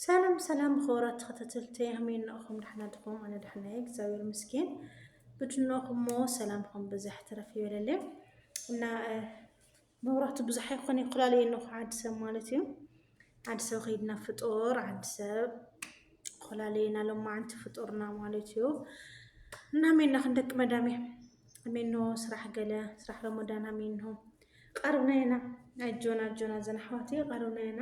ሰላም ሰላም ኸብራት ተኸታተልቲ ኣሜን ንኣኹም ዳሕና ድኹም ኣነ ዳሕና እየ እግዚኣብሔር ምስኪን ብድኖኹሞ ሰላምኹም ብዝሕ ትረፍ ይበለልየ እና መብራቱ ብዙሕ ኣይኮነ ይኩላል እየ ነኹ ዓዲ ሰብ ማለት እዩ ዓዲ ሰብ ከይድና ፍጡር ዓዲ ሰብ ኮላለየና ሎማዓንቲ ፍጡርና ማለት እዩ እና ሜና ክንደቂ መዳሜ ሜኖ ስራሕ ገለ ስራሕ ረመዳና ሜኖ ቀርብና ኢና ኣጆና ኣጆና ዘን ኣሕዋት ቀርብና ኢና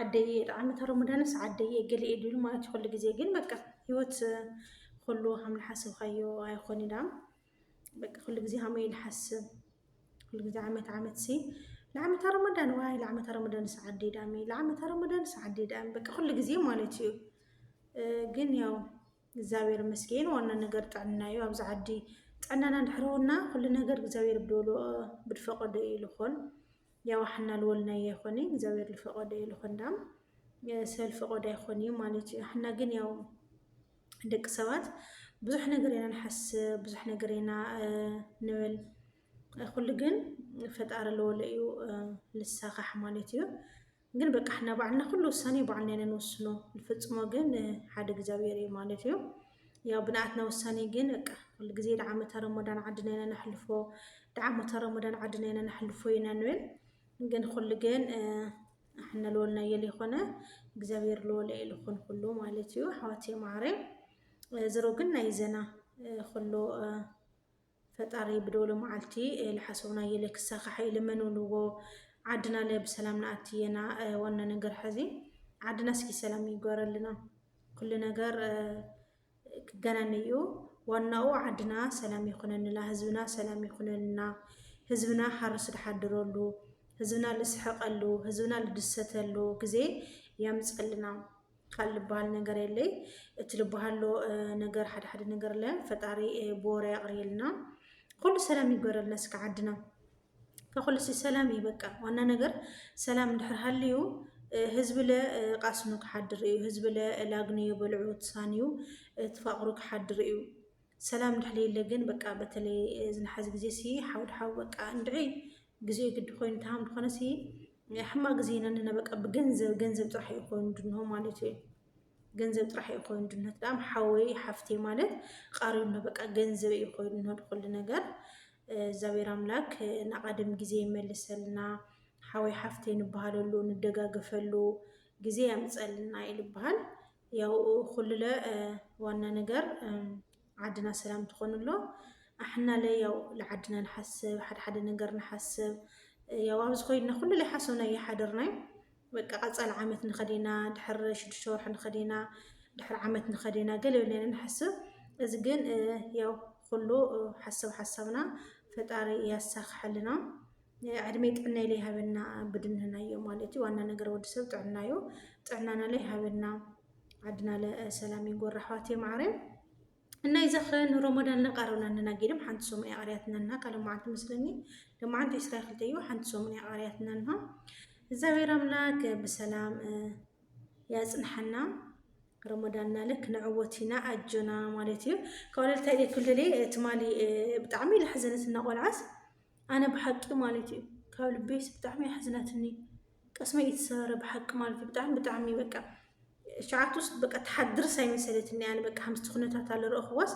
ዓደይ እየ ጣዕመተ ረመዳንስ ዓደይ እየ ገሊኤ ድብል ማለት እዩ ኩሉ ግዜ ግን በቃ ህይወት ኩሉ ከም ዝሓሰብካዮ ኣይኾን ኢና በቃ ኩሉ ግዜ ሃመይ ንሓስብ ኩሉ ግዜ ዓመት ዓመት ሲ ለዓመታ ረመዳን ዋይ ለዓመታ ረመዳንስ ዓደይ ዳሚ ለዓመታ ረመዳንስ ዓደይ ዳሚ በቃ ኩሉ ግዜ ማለት እዩ ግን ያው እግዚኣብሔር ይመስገን ዋና ነገር ጥዕና እዩ ኣብዚ ዓዲ ጥዕናና እንድሕረውና ኩሉ ነገር እግዚኣብሔር ብድፈቀዶ እዩ ልኾን ያዋ ሐና ልወልናዮ ይኾን እዩ እግዚኣብሔር ልፈቀዶ እዩ ልኾን ዳም ሰብ ልፈቀዶ ኣይኾን እዩ ማለት እዩ ሐና ግን ያው ደቂ ሰባት ብዙሕ ነገር ኢና ንሓስብ ብዙሕ ነገር ኢና ንብል ኩሉ ግን ፈጣሪ ልወሎ እዩ ልሳኻሕ ማለት እዩ ግን በቃ ሐና ባዕልና ኩሉ ውሳኔ ባዕልና ኢና ንውስኖ ልፍጽሞ ግን ሓደ እግዚኣብሔር እዩ ማለት እዩ ያው ብንኣትና ውሳኔ ግን በቃ ኩሉ ግዜ ደዓ ዓመተ ረሞዳን ዓድና ኢና ነሕልፎ ደዓ ዓመተ ረሞዳን ዓድና ኢና ነሕልፎ ኢና ንብል ግን ኩሉ ግን ኣሕነ ልወልናዮ ዘይኮነ እግዚኣብሔር ልወለየ ልኹን ኩሉ ማለት እዩ ኣሕዋትየ ማዓረይ ዝሮ ግን ናይዘና ኩሉ ፈጣሪ ብዶሎ ማዓልቲ ልሓሰብናዮለ ክሳካሕእዩ ልመኑልዎ ዓድናለ ብሰላም ንኣቲ የና ዋና ነገር ሐዚ ዓድና እስኪ ሰላም ይግበረልና ኩሉ ነገር ክገናነይእዩ ዋናኡ ዓድና ሰላም ይኩነንላ ህዝብና ሰላም ይኩነልና ህዝብና ሓርሱ ድሓድረሉ ህዝብና ልስሕቀሉ ህዝብና ልድሰተሉ ግዜ ያምፀልና። ቃል ልበሃል ነገር የለይ እቲ ልበሃሎ ነገር ሓደ ሓደ ነገር ለ ፈጣሪ ብወረ ያቕርየልና ኩሉ ሰላም ይግበረልና እስከ ዓድና ከኩሉ ሲ ሰላም እዩ በቃ ዋና ነገር ሰላም እንድሕር ሃልዩ ህዝቢ ለ ቃስኑ ክሓድር እዩ ህዝቢ ለ ላግንዮ በልዑ ትሳንዩ ትፋቕሩ ክሓድር እዩ ሰላም እንድሕር የለ ግን በቃ በተለይ እዚ ንሓዚ ግዜ ሲ ሓው ድሓው በቃ እንድዒ ግዜኡ ግዲ ኮይኑ ተሃም ድኾነ ሲ ሕማቅ ግዜ ኢና ኣለና በቃ ብገንዘብ ገንዘብ ጥራሕ እዩ ኮይኑ ድንሆ ማለት እዩ ገንዘብ ጥራሕ እዩ ኮይኑ ድነት ዳም ሓወይ ሓፍቴ ማለት ቃሪብና በቃ ገንዘብ እዩ ኮይኑ ድንሆ ድኩሉ ነገር እግዚኣብሔር ኣምላክ ንቀደም ግዜ ይመልሰልና ሓወይ ሓፍቴ ንበሃለሉ ንደጋገፈሉ ግዜ ያምፀልና እዩ ልበሃል ያው ኩሉለ ዋና ነገር ዓድና ሰላም ትኾኑ ኣሎ ኣሕናለ ያው ለዓድና ንሓስብ ሓደ ሓደ ነገር ንሓስብ ያው ኣብዚ ኮይና ኩሉለ ሓሶና ይሓድርና እዩ በቃ ቀፃሊ ዓመት ንኸዲና ድሕር ሽዱሽተ ወርሒ ንኸዲና ድሕር ዓመት ንኸዲና ገለ ብለና ንሓስብ እዚ ግን ያው ኩሉ ሓሳብ ሓሳብና ፈጣሪ ያሳክሐልና ዕድመይ ጥዕናይ ለይ ሃበና ብድንህናዮ ማለት እዩ። ዋና ነገር ወዲ ሰብ ጥዕና እዩ። ጥዕናና ለይ ሃበና ዓድና ሰላም ይጎር ኣሕዋት የማዕረ እና ይዘኽረ ንሮሞዳን ለቃረብና ነና ጌድም ሓንቲ ሰሙን ያቃርያትና እና ካለ መዓልቲ መስለኒ ለመዓንቲ ዕስራ ክልተ እዩ ሓንቲ ሰሙን ያቃርያትና እና እግዚኣብሔር ኣምላክ ብሰላም ያጽንሓና ረመዳንና ልክ ንዕወት ኢና ኣጆና ማለት እዩ ካብ ወለልታይ ክልል ትማሊ ብጣዕሚ ዝሓዘነት እና ቆልዓስ ኣነ ብሓቂ ማለት እዩ ካብ ልቤስ ብጣዕሚ ኣሕዚናትኒ ቅስመይ እዩ ተሰበረ ብሓቂ ማለት እዩ ብጣዕሚ ብጣዕሚ በቃ ሸዓቱስ በቃ ተሓድርስ ኣይመሰለትኒ ኣነ በቃ ከምስቲ ኩነታት ኣለ ረእኽዋስ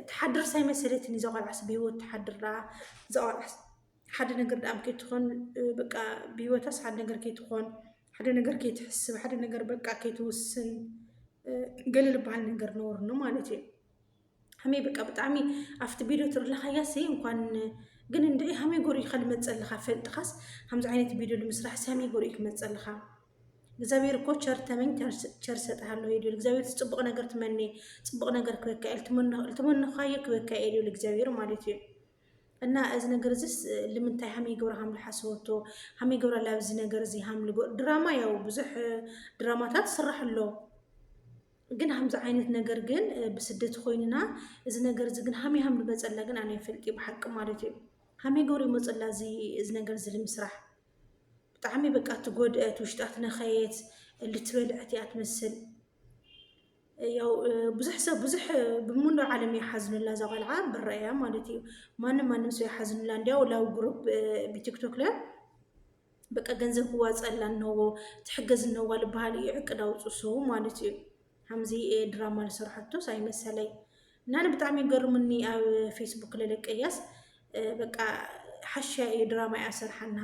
ተሓድርስ ኣይመሰለትኒ እዛ ቆልዓስ ብሂወት ተሓድር ደኣ እዛ ቆልዓስ ሓደ ነገር ደኣም ከይትኾን በቃ ብሂወታስ ሓደ ነገር ከይትኾን ሓደ ነገር ከይትሕስብ ሓደ ነገር በቃ ከይትውስን ገለ ዝበሃል ነገር ነውርኒ ማለት እዩ ሃሜ በቃ ብጣዕሚ ኣብቲ ቪድዮ ትርለኻያ ሲ እንኳን ግን እንደ ሃሜ ጎሪኡ ከልመፀልኻ ፈልጥኻስ ከምዚ ዓይነት ቪድዮ ንምስራሕ ሲ ሃሜ ጎሪኡ ክመፀልኻ እግዚኣብሔር እኮ ቸር ተመኝ ቸር ሰጥሃለሁ ይብል እግዚኣብሔር ጽቡቅ ነገር ትመኔ ጽቡቅ ነገር ክበካ ኢል ትመነኻዮ ክበካ ኢል ይብል እግዚኣብሔር ማለት እዩ እና እዚ ነገር እዚስ ልምንታይ ሃመይ ገብረ ሃምሉ ሓስበቶ ሃመይ ገብረ ላብዚ ነገር እዚ ሃምሉ ድራማ ያው ብዙሕ ድራማታት ስራሕ ኣሎ ግን ሃምዚ ዓይነት ነገር ግን ብስደት ኮይንና እዚ ነገር እዚ ግን ሃመይ ሃም ንመጸላ ግን ኣነ ይፈልጥ ብሓቂ ማለት እዩ ሃመይ ገሩ ይመጸላ እዚ እዚ ነገር እዚ ንምስራሕ ብጣዕሚ በቃ ትጎድአት ውሽጣ ትነኸየት ልትበልዐት እያ ትመስል ያው ብዙሕ ሰብ ብዙሕ ብሙሉ ዓለም የሓዝኑላ እዛ ቆልዓ ብረእያ ማለት እዩ ማንም ማንም ሰው የሓዝኑላ እንዲያው ላው ግሩፕ ብቲክቶክ ለ በቃ ገንዘብ ክዋፀላ እነዎ ትሕገዝ እነዋ ልበሃል እዩ ዕቅድ ኣውፁ ሰው ማለት እዩ ከምዚ ድራማ ዝሰርሐቶስ ኣይመሰለይ እና ኣነ ብጣዕሚ ይገርምኒ ኣብ ፌስቡክ ለለቀያስ በቃ ሓሻ እዩ ድራማ እያ ሰርሓና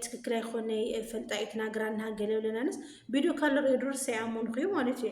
ትክክል ኣይኮነ ፈልጣ እዩ ትናገራና ገለ ብለናንስ ቪድዮ ካለ ሬድሮስ ኣይኣመንኩ እዩ ማለት እዩ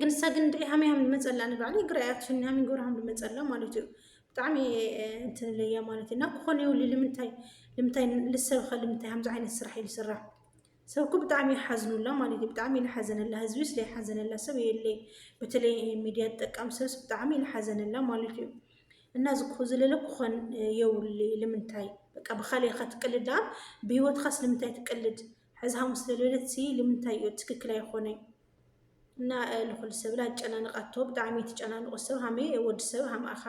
ግን ንሳ ግን ድዒ ሃመይ ሃም ዝመፀላ ንባዕሉ ይግራያ ትሽኒ ሃመይ ጎር ሃም ዝመፀላ ማለት እዩ ብጣዕሚ እንትን ለያ ማለት እዩ እና ክኾነ ይብሉ ልምንታይ ልምንታይ ልሰብኸ ልምንታይ ከምዚ ዓይነት ስራሕ እዩ ዝስራሕ ሰብ እኮ ብጣዕሚ ይሓዝኑላ ማለት እዩ ብጣዕሚ ልሓዘነላ ህዝቢ ስለ ይሓዘነላ ሰብ የለይ በተለይ ሚዲያ ዝጠቀም ሰብስ ብጣዕሚ ልሓዘነላ ማለት እዩ እና ዝኩ ዝለለ ክኾን የውሊ ልምንታይ በቃ ብካልእ ኢኻ ትቅልድ ዳኣ ብሂወትኻስ ልምንታይ ትቅልድ ሕዚ ሃሙስ ለለለት ሲ ልምንታይ እዩ ትክክል ኣይኾነይ እና ንኹሉ ሰብ ላ ኣጨናንቃቶ ብጣዕሚ ትጨናንቆ ሰብ ሃመ ወዲ ሰብ ሃምኣኻ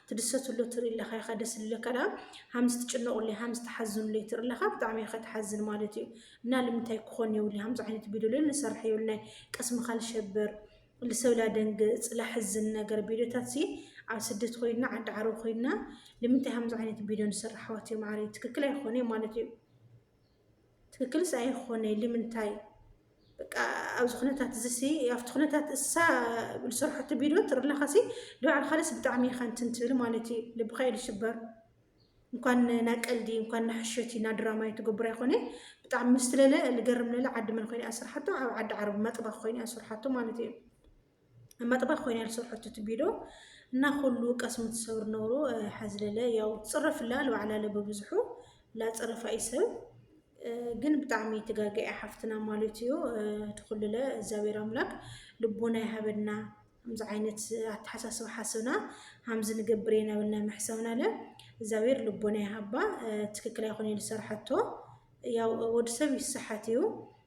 ትድሰትሎ ትርኢ ኣለኻ ኢኻ ደስ ልለካ ዳ ሃምስ ትጭነቁሉ ሃምስ ትሓዝኑሉ ትርኢ ኣለኻ ብጣዕሚ ኢኻ ትሓዝን ማለት እዩ እና ልምንታይ ክኾን የብሉ ሃምዚ ዓይነት ቪድዮ ለ ንሰርሕ የብልናይ ቅስምኻ ልሸብር ልሰብ ላደንግፅ ላሕዝን ነገር ቪድዮታት ሲ ኣብ ስደት ኮይና ዓዲ ዓረብ ኮይና ልምንታይ ሃምዚ ዓይነት ቪድዮ ንሰርሕ ኣሕዋት ማዓረይ ትክክል ኣይኾነ ማለት እዩ ትክክልስ ኣይኾነይ ልምንታይ በቃ ኣብዚ ኩነታት እዚሲ ኣብቲ ኩነታት እሳ ዝሰርሐቶ ቪድዮ ትርኢ ኣለኻሲ ንባዕልኻለስ ብጣዕሚ ኢኻ እንትን ትብል ማለት እዩ ልብኻ እዩ ዝስበር እንኳን ና ቀልዲ እንኳን ና ሕሸቲ ና ድራማ እዩ ትገብር ኣይኮነ ብጣዕሚ ምስትለለ ልገርም ለለ ዓዲ መን ኮይነ እያ ስርሓቶ ኣብ ዓዲ ዓረብ መጥባ ኮይነ እያ ስርሓቶ ማለት እዩ መጥባ ኮይና ዝሰርሐቶ እቲ ቢዶ እና ኩሉ ቀስሙ ትሰብር ነውሩ ሐዝለለ ያው ትፅረፍላ ልባዕላለ በብዝሑ ላፀረፋ ይሰብ ግን ብጣዕሚ ትጋገያ ሓፍትና ማለት እዩ ትኩልለ እግዚኣብሔር ኣምላክ ልቦና ይሃበና ከምዚ ዓይነት ኣተሓሳስባ ሓስብና ሃምዚ ንገብር የናበልና መሕሰብና ለ እግዚኣብሔር ልቦና ይሃባ ትክክል ኣይኮነ ዝሰርሐቶ ያው ወዲ ሰብ ይሰሓት እዩ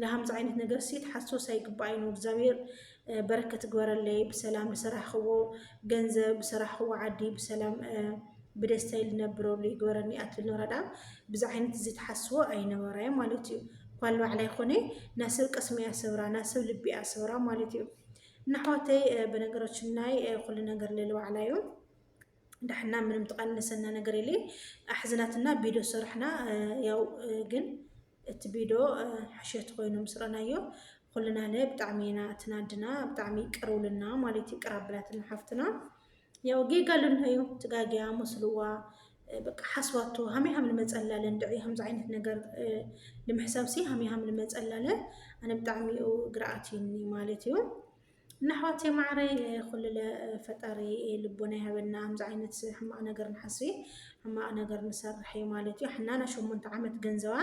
ለሃምዚ ዓይነት ነገር ሲ ትሓሶስ ኣይግባኣይ ን እግዚኣብሔር በረከት ግበረለይ ብሰላም ዝሰራሕክዎ ገንዘብ ዝሰራሕክዎ ዓዲ ብሰላም ብደስታ ልነብረሉ ይግበረኒ ኣትብል ነራ ዳኣ ብዚ ዓይነት እዚ ትሓስዎ ኣይነበራይ ማለት እዩ ኳል ባዕላይ ኮነ ናስብ ቀስሚያ ሰብራ ናስብ ልቢያ ሰብራ ማለት እዩ እና ኣሕዋተይ በነገራችን ናይ ኩሉ ነገር ለለባዕላዩ ዳሕና ምንም ተቀነሰና ነገር የለ ኣሕዝናትና ቢዶ ሰራሕና ያው ግን እቲ ቢዶ ሕሸት ኮይኑ ምስ ረናዮ ኩልና ለ ብጣዕሚ ኢና ትናድና ብጣዕሚ ቅርውልና ማለት ይቅር ኣበላትና ሓፍትና ያው ጌጋ ኣለና እዩ ትጋጊያ መስልዋ በቃ ሓስባቶ ሃመይ ሃም ንመጸላለ እንድዒ ከምዚ ዓይነት ነገር ንምሕሳብ ሲ ሃመይ ሃም ንመጸላለ ኣነ ብጣዕሚ እዩ ግርኣት ማለት እዩ ንኣሕዋተይ ማዓረይ ኩሉለ ፈጣሪ ልቦና ይሃበና ኣምዚ ዓይነት ሕማቅ ነገር ንሓስብ ሕማቅ ነገር ንሰርሕ እዩ ማለት እዩ ሕናና ሸሞንተ ዓመት ገንዘባ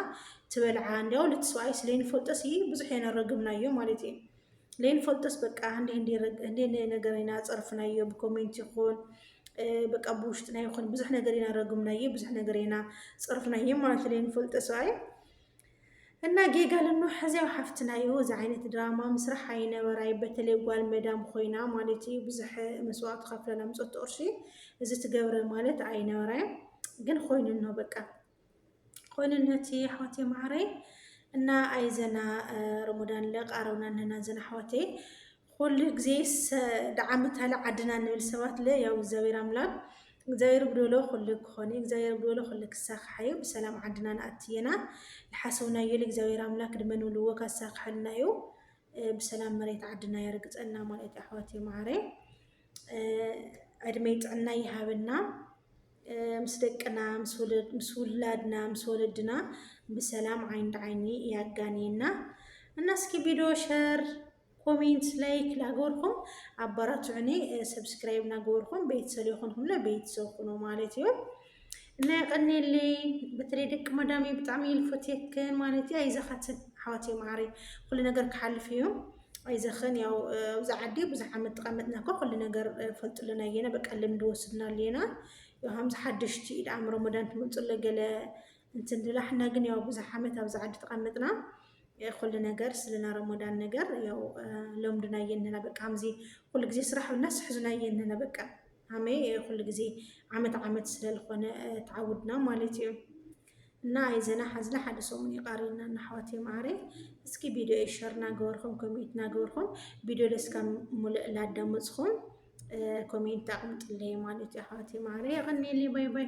ትበልዓ እንዲያው ልትስዋይስ ለይንፈልጦስ እዩ ብዙሕ እየ ነረግምናዮ ማለት እዩ ለይንፈልጦስ በቃ እንዲ እንዲ እንዲ ነገር ኢና ጸርፍናዮ ብኮሜንት ይኹን በቃ ብውሽጥና ይኹን ብዙሕ ነገር ኢና ረግምናዮ ብዙሕ ነገር ኢና ጸርፍናዮ ማለት እዩ ለይንፈልጦስ እዩ እና ጌጋ ልኖ ሕዚያው ሓፍትና እዩ እዚ ዓይነት ድራማ ምስራሕ ኣይነበራይ በተለይ ጓል መዳም ኮይና ማለት እዩ ብዙሕ መስዋዕት ከፍለ ለምፀት ቁርሺ እዚ ትገብረ ማለት ኣይነበራይ ግን ኮይኑ ነው በቃ ኮይንነት ኣሕዋት የማዕረይ እና ኣይዘና ረመዳን ለቃረውና ነና ዘና ኣሕዋተይ ኹሉ ግዜ ደዓም ታለ ዓድና ንብል ሰባት ለ ያው እግዚኣብሔር ኣምላክ እግዚኣብሔር ብዶሎ ኹሉ ክኾን እዩ እግዚኣብሔር ብዶሎ ኹሉ ክሳካሕ እዩ ብሰላም ዓድና ንኣቲ የና ልሓሰውናዮ ልእግዚኣብሔር ኣምላክ ድመ ንብልዎ ካሳክሐልና እዩ ብሰላም መሬት ዓድና የርግፀና ማለት ኣሕዋት የመዓረ ዕድሜ ጥዕና ይሃበና ምስ ደቅና ምስ ውላድና ምስ ወለድና ብሰላም ዓይኒ ዓይኒ ያጋንየና እና እስኪ ቪዲዮ ሸር ኮሜንት ላይክ ላገበርኩም ኣባራትዑኒ ሰብስክራይብ ናገበርኩም ቤተሰብ የኮንኩምና ቤተሰብ ኩኑ ማለት እዩ እና የቀኔለይ በተለይ ደቂ መዳሜ ብጣዕሚ ልፈትየክን ማለት እዩ ኣይዘኻትን ኣሕዋት የማዕሪ ኩሉ ነገር ክሓልፍ እዩ ኣይዘኽን ያው ኣብዚ ዓዲ ብዙሕ ዓመት ተቐመጥና እኮ ኩሉ ነገር ፈልጥልና እየና በቃ ልምዲ ወስድናሉ እየና ከምዚ ሓደሽቲ ኢድ ኣም ረመዳን ትመፅሎ ገለ እንትን ድላ ሕና ግን ያው ብዙሕ ዓመት ኣብዚ ዓዲ ተቐምጥና ኩሉ ነገር ስለና ረሞዳን ነገር ያው ለምዱና የንና በቃ ከምዚ ኩሉ ግዜ ስራሕ ብልና ስሕዙና የንና በቃ ሃመ ኩሉ ግዜ ዓመት ዓመት ስለዝኾነ ተዓውድና ማለት እዩ እና ኣይዘና ሓዝና ሓደ ሰሙን ይቃሪና እና ኣሕዋት የማዕረ እስኪ ቪድዮ ሸር ናገበርኹም ኮሜንት ናገበርኹም ቪድዮ ደስካ ሙሉእ ላዳመፅኹም ኮሜንት ኣቕምጥለይ ማለት እዩ ኣሕዋት የማዕረ የቐኒየለይ ባይ ባይ